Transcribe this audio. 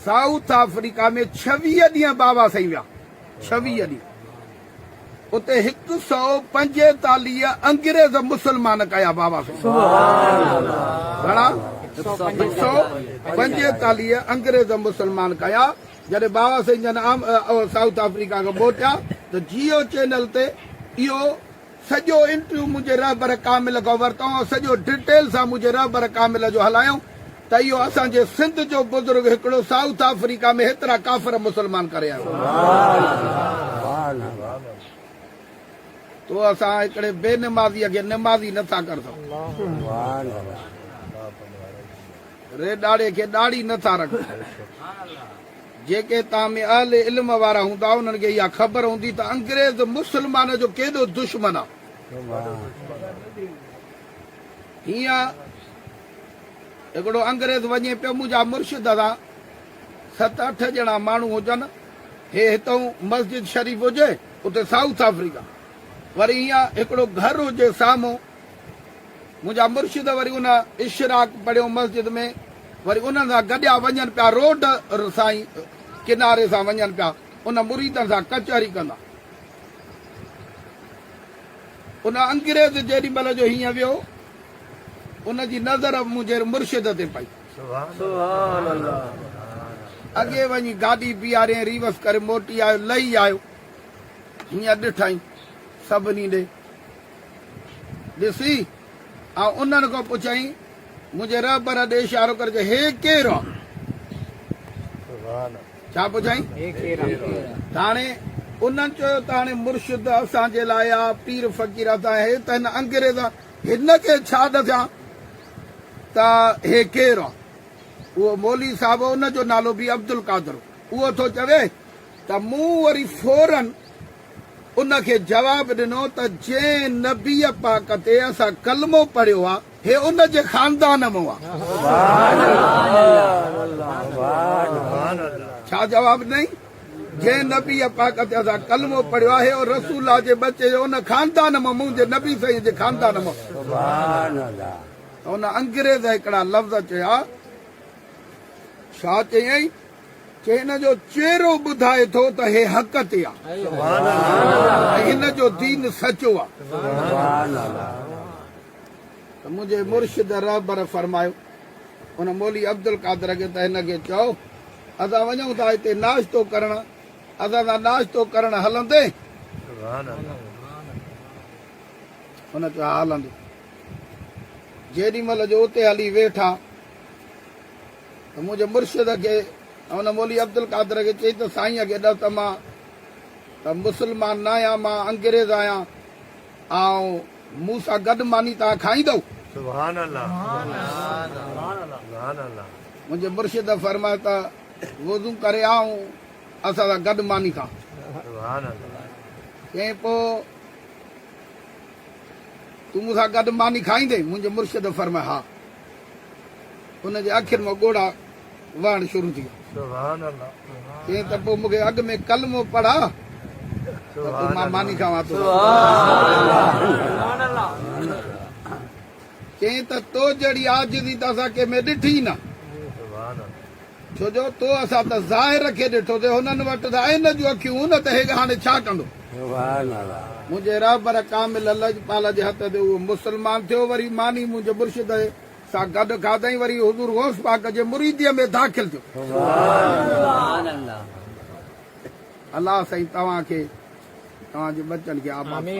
South Africa ۾ ڇويهه ڏينهن بابا سائين ويا. ڇويهه ڏينهن اتي هڪ سؤ پنجيتاليهه انگريز مسلمان ڪيا بابا سائين. گهڻا؟ هڪ سؤ پنجيتاليهه انگريز مسلمان ڪيا. جڏهن بابا سائين جن سائوٿ آفريڪا کان موٽيا ته جيو چينل تي اهو سڄو انٽرويو منهنجي رهبر ڪامل کان ورتائون ۽ سڄو ڊٽيل سان منهنجي رهبر ڪامل جو هلايائون ته اهو اسان جي سنڌ جو بزرگ هڪڙو سائوٿ آفريڪا ۾ هيترا ڪافر مسلمان ڪري آيو تو اسان هڪڙي بي نمازي کي نمازي نٿا ڪر سگهون. ري ڏاڙهي کي ڏاڙهي نه ٿا رکن. جيڪي تان ۾ اهل علم وارا هوندا انهن کي اها خبر هوندي ته انگريز مسلمانن جو ڪيڏو دشمن آ. هينئر هڪڙو انگريز وڃي پيو منهنجا مرشد سان ست اٺ ڄڻا ماڻهو هجن هي هتئون مسجد شريف هجي اتي سائوٿ آفريڪا وري هينئر هڪڙو گهر هجي سامهون منهنجا مرشد وري ان اشراق پڙهيو مسجد ۾ وري انهن سان گڏيا وڃن پيا روڊ سائين ڪناري سان وڃن پيا ان مريدن سان ڪچهري ڪندا ان انگريز جيڏي مهل جو هيئن ويو ان جي نظر منهنجي مرشد تي پئي سبحان الله اڳي وڃي گاڏي بيهاري ریوس ڪري موٽي آيو لهي آيو هيئن ڏٺائين سڀني ڏي ڏسي، آء انهن کان پڇيائين، منهنجي رهبر ڏي اشارو ڪري چيو، هي ڪير آ؟ ڇا پڇيائين؟ تاڻي انهن چيو، تاڻي مرشد اسان جي لاء آ، پير فقير اسان جي هي ته هن انگريز هن کي ڇا ڏسيان ته هي ڪير آ؟ اهو مولوي صاحب هو، ان جو نالو به عبدالقادر هو، اهو ٿو چوي، ته مون وري فوراً ان کي جواب ڏنو ته جنهن نبيء پاڪ تي اسان ڪلمو پڙهيو آ، هي ان جي خاندان مون آ. ڇا جواب ڏنائين؟ جنهن نبيء پاڪ تي اسان ڪلمو پڙهيو آ، هي او رسول الله جي ٻچي جو ان خاندان مون، منهنجي نبي سائينء جي خاندان مون. ته ان انگريز هڪڙا لفظ چيا. ڇا چيائين؟ چي هن جو چهرو ٻڌائي ٿو ته هي حق تي آ ۽ هن جو دين سچو آ ته منهنجي مرشد رهبر فرمايو ان مولوي عبدالقادر کي ته هن کي چئو اسان وڃون ٿا هتي ناشتو ڪرڻ اسان سان ناشتو ڪرڻ هلندين؟ هن چيو ها هلندين جيڏي مهل جو اتي هلي ويٺا. ته منهنجي مرشد کي ۽ ان مولوي عبدالقادر کي چئي ته سائينء کي ڏس ته مان ته مسلمان ناهيان، مان انگريز آهيان، آئون مون سان گڏ ماني تان کائيندؤ؟ سبحان الله سبحان الله. منهنجي مرشد فرمايو ته وضو ڪري آ ۽ اسان سان گڏ ماني کاء. سبحان الله. چيائين پوء تون مون سان گڏ ماني کائيندين؟ منهنجي مرشد فرمايو ها. هن جي اکين مان ڳوڙها وهڻ شروع ٿي ويا. چيائين ته پوء مون کي اڳ ۾ ڪلمو پڙهاء ته پوء مان ماني کاوان ٿو. چيائين ته تو جهڙي عاجزي ته اسان ڪنهن ۾ ڏٺي ئي نه. ڇو جو تو اسان ته ظاهر کي ڏٺو ٿي هنن وٽ ته عين جون اکيون هون نه ته هيگ هاڻي ڇا ڪندو. سبحان الله. منهنجي رهبر ڪامل لجپال جي هٿ تي اهو مسلمان ٿيو وري ماني منهنجي مرشد سان گڏ کاڌائين وري حضور غوث پاڪ جي مريديء ۾ داخل ٿيو. سبحان الله. الله سائين توهان کي توهان جي ٻچن کي آباد. آمين.